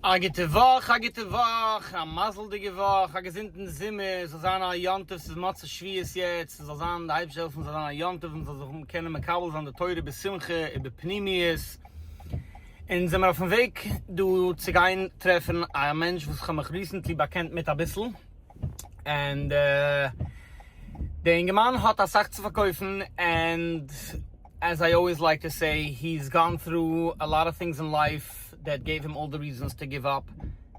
א גוטע וואך, א גוטע וואך, א מזל'דיגע וואך, א געזונטן זומער, ס'זאל זיין א יום טוב, ס'איז מוצאי שביעית יעצט, ס'זאל זיין די אייבערשטער העלפן ס'זאל זיין א יום טוב, מ'זאל זיך קענען מקבל זיין די תורה בשמחה ובפנימיות, אונז זעמיר אויפן וועג דא צו גיין טרעפן א מענטש וואס כ'האב מיך ריסענטלי באקענט מיט אביסל. ענד דער אינגערמאן האט אסאך צו פארקויפן ענד עז איי אלוועיס לייק טו סעי הי איז גאן טרו א לאט אוו טינגס אין לייף דעט געיוו הים אלל די ריזענס טו גיוו אפ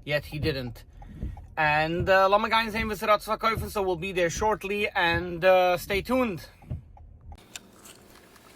יעט הי דידענט ענד לאמיר גיין זעהן וואס ער האט צו פארקויפן סאו וויל בי דער שארטלי ענד סטעי טונד.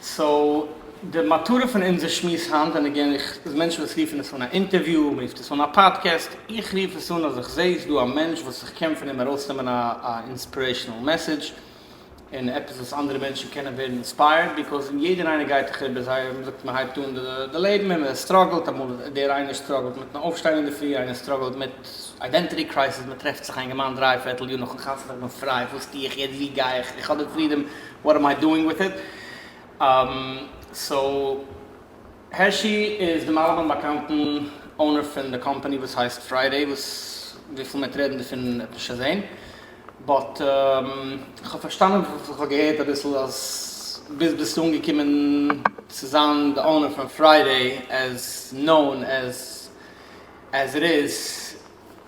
סאו די מטרה פון אונזער שמועס היינט און אגעין איך איז מענטשן וואס רופן עס אן א אינטערוויו מען רופט עס אן א פאדקעסט איך רוף עס אן אז איך זע איז דא א מענטש וואס איך קען פון אים ארויסנעמען א אינספירעישאנעל מעסעדזש און עפעס וואס אנדערע מענטשן קענען ווערן אינספייערד ביקאוז יעדער איינער גייט דאך איבער זייער ווי מען זאגט מען הייבט אן די לעבן און מען סטראגלט אמאל איז דער איינער סטראגלט מיטן אויפשטיין אינדערפרי איינער סטראגלט מיט איידענטיטי קרייסיס מען טרעפט זיך איינגעמאן דריי פערטל יאר נאכן חתונה איך בין פריי וואס טו איך יעצט וואו גיי איך איך האב די פרידאם וואט עם איי דואינג וויט איט? אהמ סאו הערשי איז דעם אלעמען באקאנטן אונער פון די קאמפאני וואס הייסט פריידעי וואס וויפיל מיט רעדן דערפון האט נישט געזעהן באט כ'האב פארשטאנען פון וואס כ'האב געהערט אביסל אז ביז ביסטו אנגעקומען צו זיין די אונער פון פריידעי עז נאון עז עז איט איז.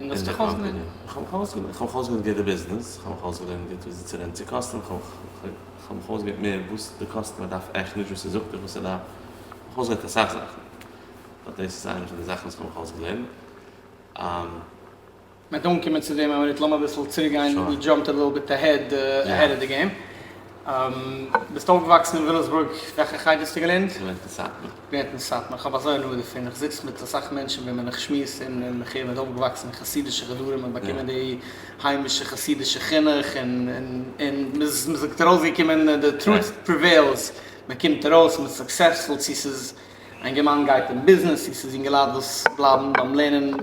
און דאס האט דיך אויסגעלערנט? איך האב מיך אויסגעלערנט גוט די ביזנעס, איך האב מיך אויסגעלערנט גוט וויאזוי צו רעדן צו קאסטומער, איך האב מיך אויסגעלערנט מער וואס די קאסטומער דארף עכט, נישט וואס ער זאגט דיך וואס ער דארף, איך האב מיך אויסגעלערנט אסאך זאכן, באט דאס איז איינע פון די זאכן וואס איך האב מיך אויסגעלערנט. מ'וועט אנקומען צו דעם, אבער איצט לאמיר אביסל צוריקגיין, ווי דזשאמפט א ליטל ביט עהעד אהעד אוו די געים. ביסט אויפגעוואקסן אין וויליאמסבורג? וועלכע חדר האסטו געלערנט? געלערנט אין סאטמאר. געלערנט אין סאטמאר, כ'האב אזוי הנאה דערפון, איך זיץ מיט אסאך מענטשן וועם מען איך שמועס און איך הער מען איז אויפגעוואקסן אין חסידישע חדרים און באקומען די היימישע חסידישע חינוך און און מען זאגט ארויסגעקומען די טרוט פריוועילס, מען קומט ארויס מען איז סוקסעספול צו ס'איז א אינגערמאן גייט אין ביזנעס צו ס'איז אינגעלייט וואס בלייבן ביים לערנען, מען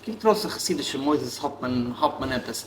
קומט ארויס אין חסידישע מוסדות האט מען האט מען עפעס.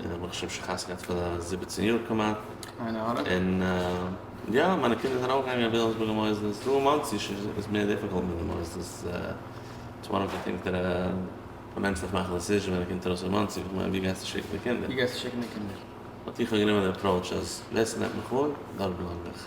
און האב מיך שוין שכח געהאט פאר די זיבעצן יאר כמעט, און יא מיינע קינדער זענען אויך געגאנגען אין וויליאמסבורגער מוסדות, דא אין מאנסי איז שוין עס מער דיפיקאלט מיט די מוסדות, איטס וואן אוו די טינגס דעט מען נעמט זיך מאכן א דעסיזשען ווען מען קומט ארויס פון מאנסי, איך מיין ווי גייסטו שיקן די קינדער? באט איך האב גענומען די אפראוטש אז ווער ס'נעמט מיך אן דארט בלייב איך.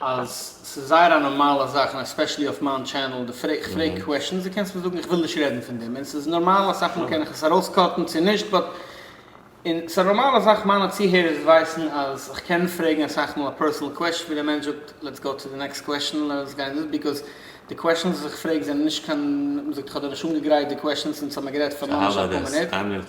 אז ס'איז זייער א נארמאלע זאך און עספעשעלי אויף מיין טשענעל די פרעג כ'פרעג קוועשענס די קענסט מיר זאגן איך וויל נישט רעדן פון דעם און ס'איז נארמאל אסאך מאל קען איך עס ארויסקאטן צו נישט באט און ס'איז א נארמאלע זאך מיינע צוהערערס ווייסן אז כ'קען פרעגן אסאך מאל א פערסענעל קוועשען ווי דער מענטש זאגט לעטס גאו טו די נעקסט קוועשען לעטס גיין דאס ביזקאוז די קוועשענס וואס איך פרעג זענען נישט קיין מ'זאגט כ'האב דיר נישט אנגעגרייט די קוועשענס אונז האמיר גערעדט פאר ממש אפאר מינוט.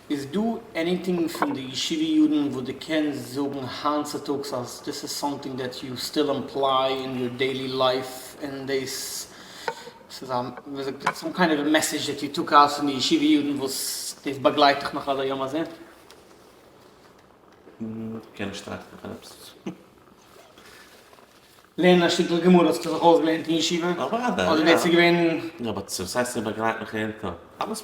איז דא עניטינג פון די ישיבה יארן וואס דו קענסט זאגן היינט צוטאגס אז דאס איז סאמטינג דעט יו סטיל עמפליי אין יור דעילי לייף און דאס איז א ווי זאגט מען סאם קיינד אוו מעסעדזש דעט יו טאק אויס פון די ישיבה יארן וואס דאס באגלייט דיך נאך עד היום הזה? כ'קען נישט טראכטן פון עפעס. לערנען א שטיקל גמרא האסטו זיך אויסגעלערנט אין ישיבה? אוודאי, יא. אדער דאס איז געווען. יא, באט וואס הייסט ס'באגלייט מיך עד היום? אלעס.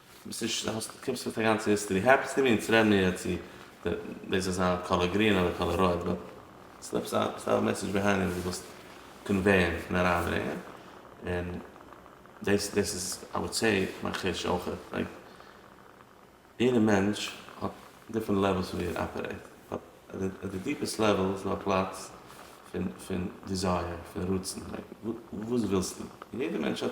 ביסט נישט האסט קענסט נישט די גאנצע היסטערי העפענס טו בי אונז רעדן מיר יעצט צו דאס זאל זיין קאלער גרין אדער קאלער רויט באט ס'איז עפעס א ס'איז דא א מעסעדזש ביהיינד וואס דו ווילסט קאנוועיען און אריינברענגען און דאס דאס איז איי וואלד סעי מיין חוש אויכעט לייק יעדע מענטש האט דיפרענט לעוועלס פון ווי ער אפערעיט באט אט די דיפעסט לעוועל איז דא א פלאץ פון פון דיזייער פון רצון לייק וואס ווילסטו און יעדע מענטש האט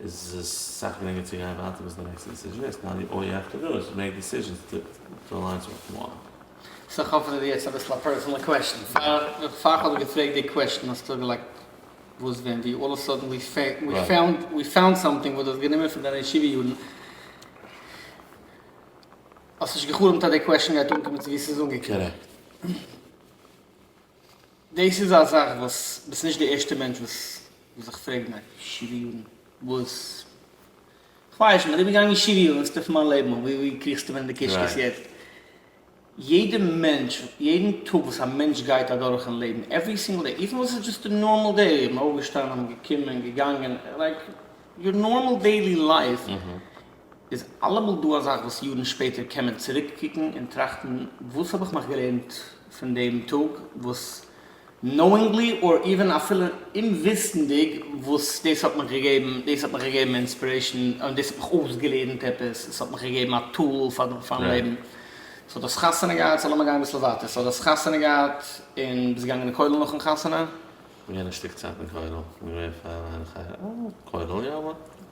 איז עס סאך גרינגער צו גיין ווייטער ביז די נעקסטע דיסיזשען איז טאן יו אי אפטער דאס מעיק דיסיזשענס טו אליינס וואט יו וואנט. סאו כ'האף עס איז יעצט אביסל א פערסענעל קוועשן. פאר כ'האב געפרעגט די קוועשן האסטו געלייגט וואס ווען ווי אלל אוו סאדען ווי פאונד סאמטינג וואס דו האסט גענומען פון דיינע ישיבה יארן. האסט נישט גע'חלומ'ט אז די קוועשן גייט אנקומען צו ווי ס'איז אנגעקומען. קארעקט. דאס איז א זאך וואס ביסט נישט די ערשטע מענטש וואס וואס איך פרעג מיך שבעה יארן וואס כווייס נישט מ'איז איבערגעגאנגען שבעה יאר אינסטעף מיין לעבן און ווי ווי קריכסטו ווען די קישקעס יעצט יעדע מענטש יעדן טאג וואס א מענטש גייט אדורך אין לעבן עווערי סינגל דעי איווען וואס איז דשאסט די נארמאל דעי מ'אויפגעשטאנען געקומען געגאנגען לייק יור נארמאל דעילי לייף איז אלעמאל דא א זאך וואס יארן שפעטער קען מען צוריק קוקן און טראכטן וואס האב איך מיך געלערנט פון דעם טאג וואס נאואינגלי אר איווען אפילו אומוויסנדיג וואס דאס האט מיך געגעבן דאס האט מיך געגעבן אינספירעישן און דאס האט מיך אויסגעלערנט עפעס עס האט מיך געגעבן א טול פארן לעבן סאו דאס חתונה געהאט סאו לאמיר גיין אביסל ווייטער סאו דאס חתונה געהאט און ביסט געגאנגען אין כולל נאכן חתונה? כ'בין געווען א שטיק צייט אין כולל, כ'בין געווען פאר א כולל יא.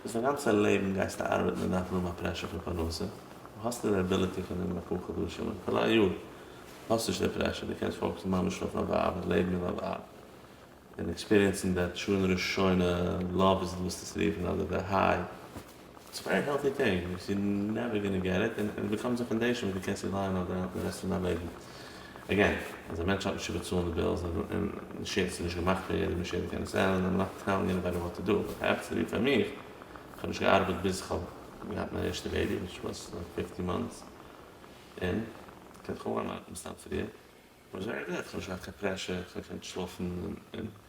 וואס דיין גאנצע לעבן גייסטו ארבעטן און דארפן האבן א פרעשור פון פרנסה, און האסט נישט די עביליטי פון נעמען אפאר חדשים און אפילו א יאר האסט נישט די פרעשור, דו קענסט פאוקעסן ממש אויף א ווייב און לעבן מיט א ווייב און עקספיריענסן די תשונה ראשונה לאוו איז וואס דאס רופן אדער די היי, איטס ווערי העלטי טינג, יו נעווער גאנא געט איט און עס באקומט זיך פון דעיס שוין וואס דו קענסט עס לייענען אויף די רעסט פון דיין לעבן. אגעין, אז א מענטש האט נישט צו באצאלן די בילס, און מאשינס איז נישט געמאכט פאר יעדע מאשין קען עס ענדלען, דאן לאך איך אריין און גיב אוועי וואט טו דו, באט כאפצט ווי פאר מיך, איך האב נישט געארבעט ביז איך האב געהאט מיין ערשטע בעיבי, וויטש וואס לייק פיפטי מאנטס, און כ'קען דאך אנהייבן ארבעטן סתם פריער, וואס זשע ער דעט, כ'האב נישט געהאט קיין פרעשור, כ'האב געקענט שלאפן און.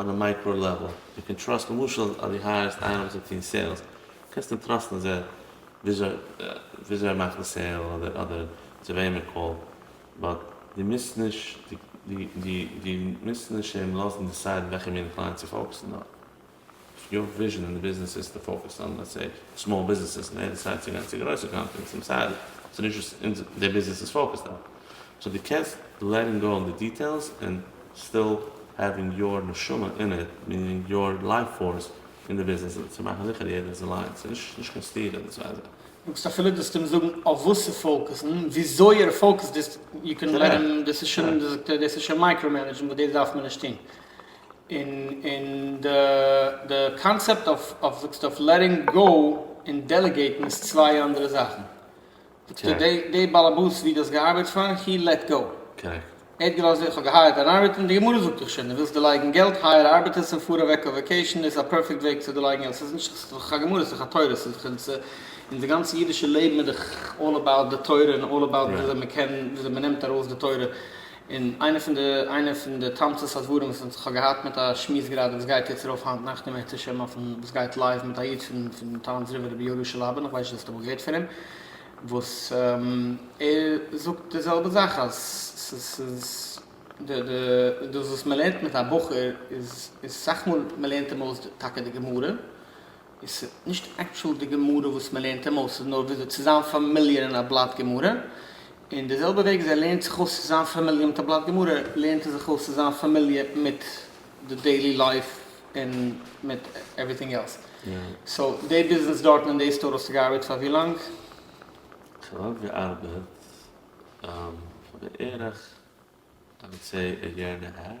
אן א מייקראו לעוועל, דו קען טראסט למשל אז דו הייערסט איינעם צו טון סעילס, קענסט אים טראסטן זייער וויאזוי ער מאכט די סעיל אדער אדער צו וועם ער קאלט, באט דו מוזט נישט דו דו דו מוזט נישט אים לאזן דיסיידן וועלכע מינע קלייענט צו פאוקסן אויף. יו וויזשען אין די ביזנעס איז טו פאוקעסט אן לעטס סעי סמאל ביזנעסעס און יעדער טרייט צו גיין צו גרויסע קאמפעניס און סארי ס'איז נישט וואס אונז די ביזנעס איז פאוקעסט אויף סאו די קענסט לעטינג גאו אן די דיטעילס און סטיל העווינג יאר נשמה אין איט מיענינג יאר לייף פארס אין די ביזנעס צו מאכן זיכער יעדער איז אליינס ס'איז נישט נישט קיין סתירה אין די צוויי זאכן. מעגסט אפילו דאס אים זאגן אויף וואס צו פאוקעסן וויאזוי ער פאוקעסט דאס יו קען לעט אים דאס איז שוין דאס איז שוין מייקראו מענעדזשן וואס דאס דארף מען נישט טון און די קאנצעפט אויף זאגסטו אויף לעטינג גאו און דעלעגעיטן איז צוויי אנדערע זאכן. זאגסטו די בעלעבאס ווי די האסט געארבייט פאר הי לעט גאו. קארעקט. ער האט געלאזט איך האב געהייערט אן ארבעטער און די גמרא זאגט דאך שוין די ווילסט דערלייגן געלט הייער ארבעטערס און פאר אוועק אויף וועקעישן איז א פערפעקט וועג צו דערלייגן געלט סאיז נישט סאיז דאך א גמרא סאיז דאך א תורה סאיז דאך אונזער גאנצע אידישע לעבן איז דאך אלל אבאוט די תורה און אלל אבאוט וויאזוי מען קען וויאזוי מען נעמט ארויס די תורה. און איינע פון די איינע פון די תמצית הדברים וואס איך האב געהאט מיט א שמועס גראדע וואס גייט יעצט ארויף היינט נאכט אין מוצש ש אויפן וואס גייט לייוו מיט א איד פון פון טאון'ס רבי רבי יהודה שלאבין איך ווייס נישט צו האסט אמאל געהערט פון אים וואס ער זאגט די זעלבע זאך אז ס'איז די די דאס וואס מ'לערנט מיט א בחור איז איז סאך מאל מ'לערנט אים אויס טאקע די גמרא עס איז נישט עקטשועל די גמרא וואס מען לערנט אים אויס, עס איז נאר וויאזוי צו זיין פאמיליער אין א בלאט גמרא, און די זעלבע וועג וואס ער לערנט זיך אויס צו זיין פאמיליער מיט א בלאט גמרא, לערנט ער זיך אויס צו זיין פאמיליער מיט די דעילי לייף און מיט עווריטינג עלס. סאו די ביזנעס דארטן אין די סטאר האסטו געארבעט פאר ווי לאנג? איך האב געארבעט פאר בערך איי וואלד סעי א יער און א האלף.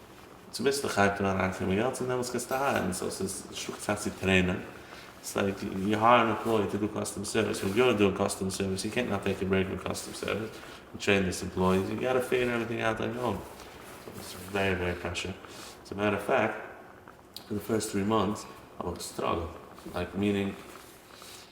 צו ביסטו חי פון אריין קומען געלט צו דעמאלטס קענסטו הייערן סאו ס'איז שלאגט פאר צו טרעינען ס'איז לייק יו הייער אן עמפלאי טו דו קאסטום סערוויס ווען יו דואינג קאסטום סערוויס יו קענט נאט טעיק א ברעיק פון קאסטום סערוויס און טרעין דיס עמפלאי יו גאטע פיגער עוועריטינג אוט אן יור און סאו דאס איז ווערי ווערי פרעשור עז א מעטער אוו פעקט פאר די פירסט טרי מאנטס האב איך געסטראגעלט לייק מינינג.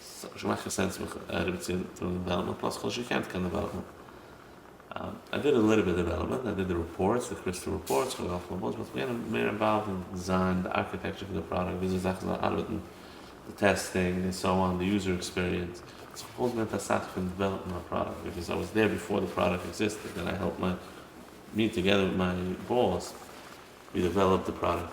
ס'האט נישט געמאכט קיין סענס מיך אריבער צו טראגן דעוועלאפמענט פלאס כ'האב נישט געקענט קיין דעוועלאפמענט. איי דיד א ליטעל ביט דעוועלאפמענט, איי דיד די רעפארטס, די קריסטעל רעפארטס, כ'האב געהאלפן אויף באס, באט כ'בין מער אינוואלווד אין דיזיין, די ארקיטעקטשער פון די פראדאקט, וויאזוי זאכן זאלן ארבעטן, די טעסטינג און סאו אן, די יוזער עקספיריענס. סאו כ'האב אויסגעלערנט אסאך פון דעוועלאפן א פראדאקט, ביקאוז איי וואס דער ביפאר די פראדאקט עקזיסטעד און איי העלפט מיי, מיר טאגעדער מיט מיין באס, ווי דעוועלאפ די פראדאקט.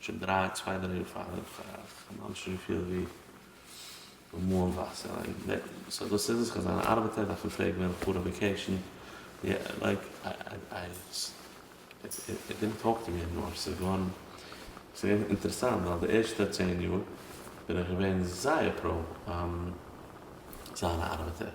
שוין דריי, צוויי דריי יאר פאר איך באנאנד שוין פיל ווי באמאלן וואסער לייק סא דאס איז עס כ'בין אן ארבעטער דארף מען פרעגן ווען כ'פאר אויף וועקעישן יא לייק איי איט דידנט טאלק טו מי ענימאר ס'איז געווארן ס'איז געווען אינטערעסאנט ווייל די ערשטע צען יאר בין איך געווען זייער פראו זיין א ארבעטער.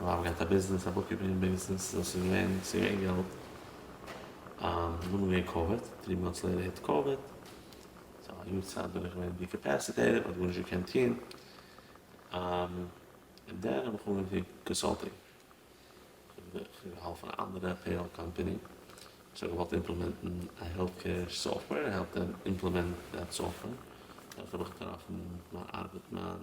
מיר האבן געהאט א ביזנעס א בוקקיפינג ביזנעס דאס איז געווען ס'איז געווען געלט דאן איז געווען קאוויד דריי מאנטס לעיטער היט קאוויד סאו א יאר צייט בין איך געווען אינקעפעסיטעיטעד איך האב גארנישט געקענט טון און דאן האב איך אנגעהויבן טון קאנסאלטינג איך האב געהאלפן אנדערע פעיראל קאמפאני וואס האט געוואלט אימפלעמענטן א העלט קעיר סאפטוועיר און העלפט דעם אימפלעמענט דעט סאפטוועיר דארט האב איך געטראפן מיין ארבעט מיין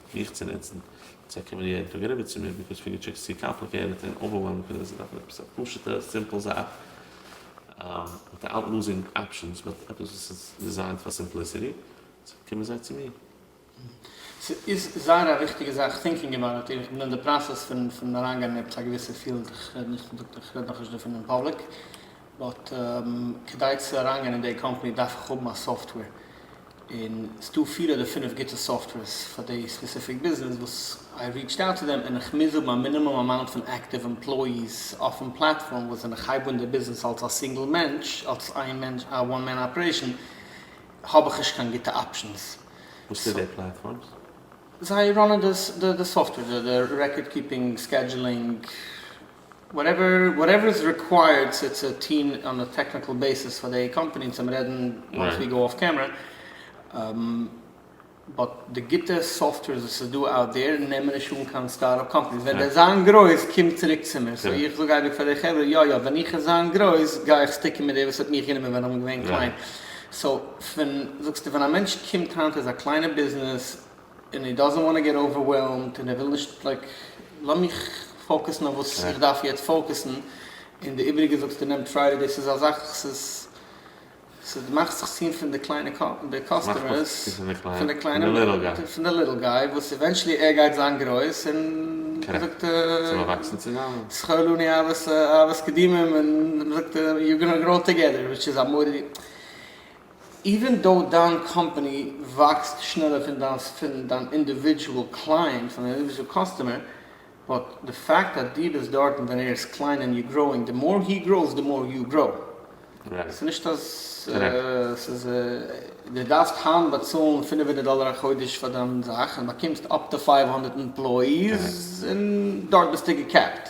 מיך צו נוצן, צו אקאמאדירן פאר גרעבער צו מיר, ביקאוז פינגער טשעקס איז צו קאמפליקעטעד און אווערוועלמינג פאר זיי, זיי דארפן עפעס א פשוטע סימפל זאך, וויטאאוט לוזינג אפשענס, באט עפעס וואס איז דיזיינט פאר סימפליסיטי, סאו קומען זיי צו מיר. ס'איז זייער א וויכטיגע זאך, טינקינג אבאוט איט, איך בין אין די פראסעס פון פון אריינגיין אין עפעס א געוויסע פיעלד, איך רעד נישט פון איך רעד נאכנישט דערפון אין פאבליק, באט כדי צו אריינגיין אין די קאמפאני דארף איך האבן א סאפטוועיר, און ס'דא פיר אדער פינף גוטע סאפטווערס פאר די ספעסיפיק ביזנעס וואס איי ריעטשד אוט טו דעם און איך מוז האבן א מינימום אמאונט פון עקטיוו עמפלאיס אויפן פלאטפארם וואס ווען איך הייב אן די ביזנעס אלס א סינגל מענטש אלס איין מענטש א וואן מען אפערעישן האב איך נישט קיין גוטע אפשענס וואס טוט די פלאטפארמס? זיי ראנען די סאפטווער די רעקארד קיפינג סקעדזשולינג וואטעווער וואטעווער איז ריקווייערד צו צו טוהן אן א טעקניקל בעיסיס פאר די קאמפעני און צום רעדן וואנס ווי גאו אף קעמרע באט די גוטע סאפטווערס וואס איז דא אוט דעיר נעמען נישט אן קיין סטארט אפ קאמפעניס ווען די זיין גרויס קום צוריק צו מיר סאו איך זאג אייביג פאר די חברה יא יא ווען איך וועל זיין גרויס גיי איך סטיקען מיט די וואס האט מיך גענומען ווען איך בין געווען קליין סאו ווען זאגסטו ווען א מענטש קומט היינט איז א קליינע ביזנעס און הי דאזענט וואנט טו געט אווערוועלמד און ער וויל נישט לייק לאמיך פאוקעסן אויף וואס איך דארף יעצט פאוקעסן און די איבריגע זאגסטו נעם טריידי דאס איז א זאך ס'איז ס'איז מאכט זיך צו פון די קליינע די קאסטומערס פון די קליינע פון די ליטל גיי וואס עווענטשעלי ער גייט זיין גרויס און ווי זאגט זכור לנו אהבת אהבת קדימים און ווי זאגט יו גאנא גראו טוגעדער וויטש איז א מאדערע. איווען דאו דיין קאמפאני וואקסט שנעלער פון דיין פון דיין אינדיווידזשועל קלייענט פון דיין אינדיווידזשועל קאסטומער באט די פאקט אז דו ביסט דארטן ווען ער איז קליין און יו גראוינג די מאר הי גראוס די מאר יו גראו ס'איז נישט אז ס'איז דו דארפסט היינט באצאלן פֿינף הונדערט דאלער א חודש פאר דיין זאך און באקומסט אפ טו פֿינף הונדערט עמפלאיס און דארט ביסטו געקעפט.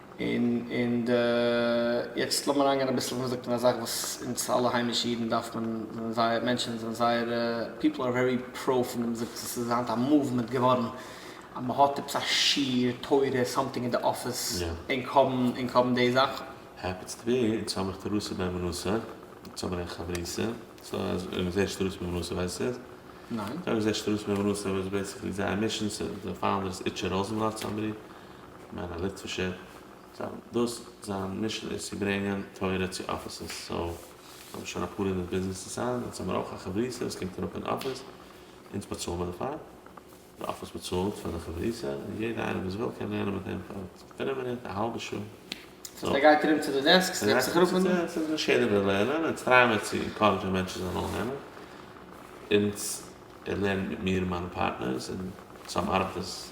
און און די, יעצט לאמיר אריינגיין אביסל וואס מען זאגט אין א זאך וואס אונז אלע היימישע אידן דארף מען, זענען זייער, מענטשן זענען זייער, פיפל אר ווערי פראו פון דעם זאגט עס איז היינט א מאוומענט געווארן אז מען האט עפעס א שיעור תורה סאמטינג אין די אפיס ענק האבן ענק האבן די זאך. העפענס טו בי אונז האב איך תורתו בן מנשה אונז האבן ענק חברותא סא אז מען זעט שטרות בן מנשה ווייסט עס ניין? זאג מען זעט שטרות בן מנשה וואס איז בעיסיקלי זייער מישן סא די פאונדער איז איטשע ראזענבלאט סאמבעדי. כ'מיין א ליטווישער, זיין דאס זיין מישען איז צו ברענגען תורה צו אפיסעס, סאו זיי האבן שוין אפאר הונדערט ביזנעסער סיינען, אונז האמיר אויך א חברותא וואס קומט אראפ אין אפיס, אונז באצאלן מיר דערפאר, די אפיס באצאלט פאר די חברותא, און יעדער איינער וואס וויל קען לערנען מיט אים פאר דריי מינוט, א האלבע שעה. סאו ער גייט ארום צו די דעסקס און זעצט זיך אראפ און. און נישט יעדער וויל לערנען, אונז טרייען מיר צו ענקארעדזשען מענטשן זיי זאלן לערנען, אונז ער לערנט מיט מיר און מיינע פארטנערס, און צוזאם ארבעט עס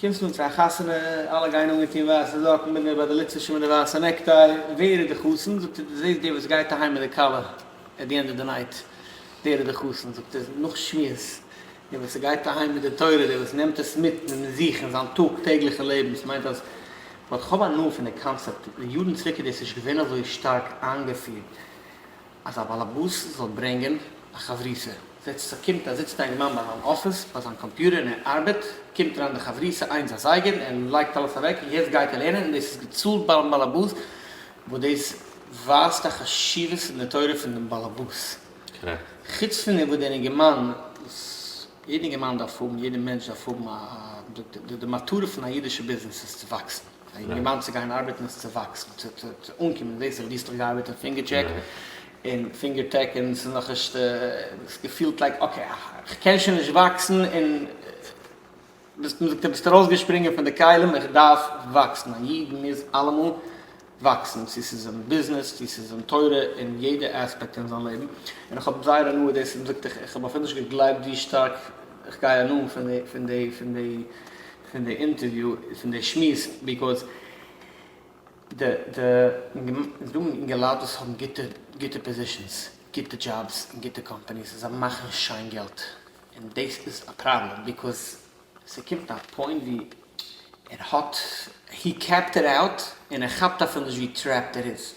קומסט אן צו א חתונה, אלע גייען אנגעטון ווייסע זאקן, מיט די באדעליצעשע מיט די ווייסע נעקטיי, ווער איז די חתן? זאגט ער, דו זעסט דער וואס גייט אהיים מיט די כלה עט די ענד אוו די נייט, דער איז די חתן, זאגט ער, נאך שמועס, דער וואס גייט אהיים מיט די תורה, דער וואס נעמט עס מיט אין זיך אין זיין טאג טעגליכע לעבן, ס'מיינט אז, באט כ'האב הנאה פון די קאנצעפט, יארן צוריק איז דאס נישט געווען אזוי שטארק איינגעפירט, אז א באלעבאס זאל ברענגען א חברותא, זעצט זיך קומט א זיצט א אינגערמאן ביי זיין אפיס ביי זיין קאמפיוטער און ער ארבעט, קומט אריין די חברותא איינס אזייגער ער לייגט אלעס אוועק און יעצט גייט ער לערנען און דאס איז געצאלט ביים באלעבאס, וואס דאס ווייזט א חשיבות אין די תורה פון דעם באלעבאס, חוץ פון דעם וואס דער אינגערמאן וואס יעדער אינגערמאן דארף האבן, יעדער מענטש דארף האבן א די מטרה פון א אידישע ביזנעס איז צו וואקסן. אין געמיינט צו גיין ארבעטן עס צו וואקסן צו צו אנקומען דאס האט גינסטעך געארבעט אין פינגער טשעק און פינגער טעק און ס'איז נאכנישט האסט געפילט לייק אקעי כ'קען שוין נישט וואקסן און ביסט מ'זאגט דו ביסט ארויסגעשפרינגען פון די כלים איך דארף וואקסן א איד מוז אלעמאל וואקסן צו ס'איז אין ביזנעס צו ס'איז אין תורה אין יעדע עספעקט אין זיין לעבן און איך האב זייער הנאה דאס האט מ'זאגט איך האב אפילו נישט געגלייבט ווי שטארק איך גיי הנאה פון די פון די פון די פון די אינטערוויו פון די שמועס ביקאויס די די דא אינגעלייט וואס האבן גוטע גוטע פאזישענס גוטע דזשאבס און גוטע קאמפאניס זיי מאכן שיין געלט און דאס איז א פראבלעם ביקאויס ס'קומט א פוינט ווי ער האט הי קעפט איט אוט און ער כאפט אפילו נישט ווי טרעפט ער איז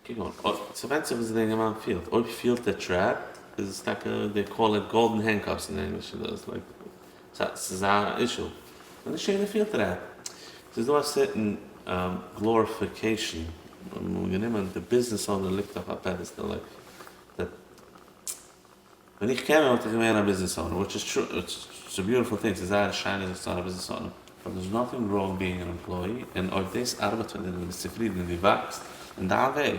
כגון, אויב, ס'ווענדט זיך וואס די יונגערמאן פילט, אויב פילט ער טרעפט, איז עס טאקע, דעי קאל איט גאלדען הענדקאפס אין ענגליש, און דאס לייק, ס'איז א אישו, און נישט יעדער פילט טרעפט. ס'איז דא א סערטען גלאריפיקעישאן, נארמאל גענומען, די ביזנעס אונער ליגט אויף א פעדעסטעל, לייק, די. ווען איך קען אים וואלט איך געווען א ביזנעס אונער, וויטש איז טרו, איטס א ביוטיפול טינג, ס'איז זייער שיין זיך צו האבן א ביזנעס אונער. סאו דער'ס נאטינג ראנג בינג אן עמפלאי, און אויב דאס ארבעט פאר דיר און דו ביסט צופרידן און דו וואקסט אין דיין וועג,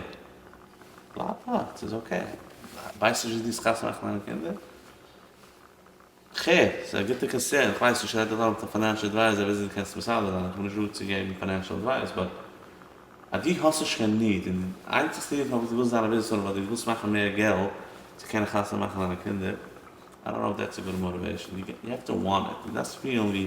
בלייב דארט, ס'איז אקעי. ווייסט נישט ווי דו האסט כאפצעמאכט מיינע קינדער? ח, ס'איז א גוטע קאנסערן, איך ווייס נישט רעלעוואנט פאר פיינענשל עדווייזער וויאזוי דו קענסט מסדר זיין, איך בין נישט דא צו געבן פיינענשל עדווייס, באט אז דו האסט נישט קיין ניד און די איינציגסטע ניד פארוואס דו ווילסט זיין א ביזנעס אונער ווייל דו ווילסט מאכן מער געלט צו קענען חתונה מאכן דיינע קינדער, איי דאנט נאו איף דעטס א גוד מאטיוועישן, יו העוו טו וואנט איט, דו דארפסט פילן ווי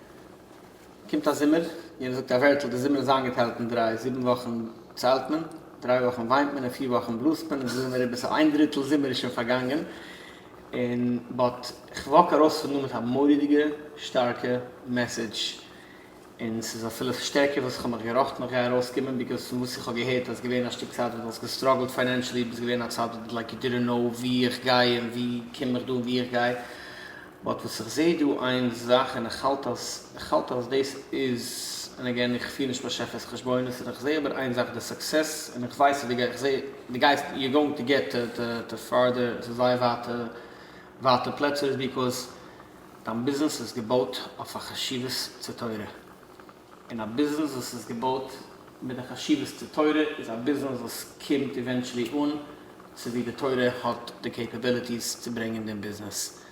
קומט א זומער, יענער זאגט א ווערטל, דער זומער איז איינגעטיילט אין דריי, זיבן וואכן ציילט מען, דריי וואכן וויינט מען און פיר וואכן בלאזט מען, אונז זעמיר איבער סאו איין דריטל זומער איז שוין פארגאנגען, און באט כ'וואק ארויס פון דא מיט א מורא'דיגע שטארקע מעסעדזש, און ס'איז אפילו שטערקער וואס כ'האב מיך געראכטן איך גיי ארויסקומען, ביקאוז פון וואס איך האב געהערט אז געווען א שטיק צייט וואס דו האסט געסטראגלט פיינענשעלי, ביסט געווען א צד וואס לייק יו דידענט קנאו ווי איך גיי און ווי קום איך דא און ווי איך גיי, באט וואס איך זעה דא איין זאך און איך האלט אז איך האלט אז דאס איז און עגעין איך פיר נישט באשעפערס חשבונות און איך זעה אבער איין זאך די סוקסעס און איך ווייס אז איך זעה די גייסט יו גאוינג טו געט טו פארדער צו זייער ווייטע ווייטע פלעצער איז ביעקאוז דיין ביזנעס איז געבויט אויף א חשיבות צו תורה. און א ביזנעס וואס איז געבויט מיט די חשיבות צו תורה איז א ביזנעס וואס קומט איווענטשעלי אן צו ווי די תורה האט די קעיפעביליטיס צו ברענגען דעם ביזנעס.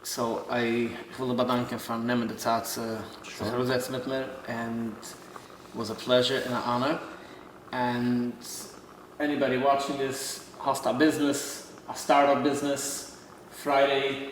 סאו איי איך וויל דיר באדאנקען פארן נעמען די צייט צו זיך אראפזעצן מיט מיר ענד וואס א פלעזשער און א אנער ענד עניבאדי וואטשינג דיס האסט א ביזנעס א סטארט אפ ביזנעס פריידעי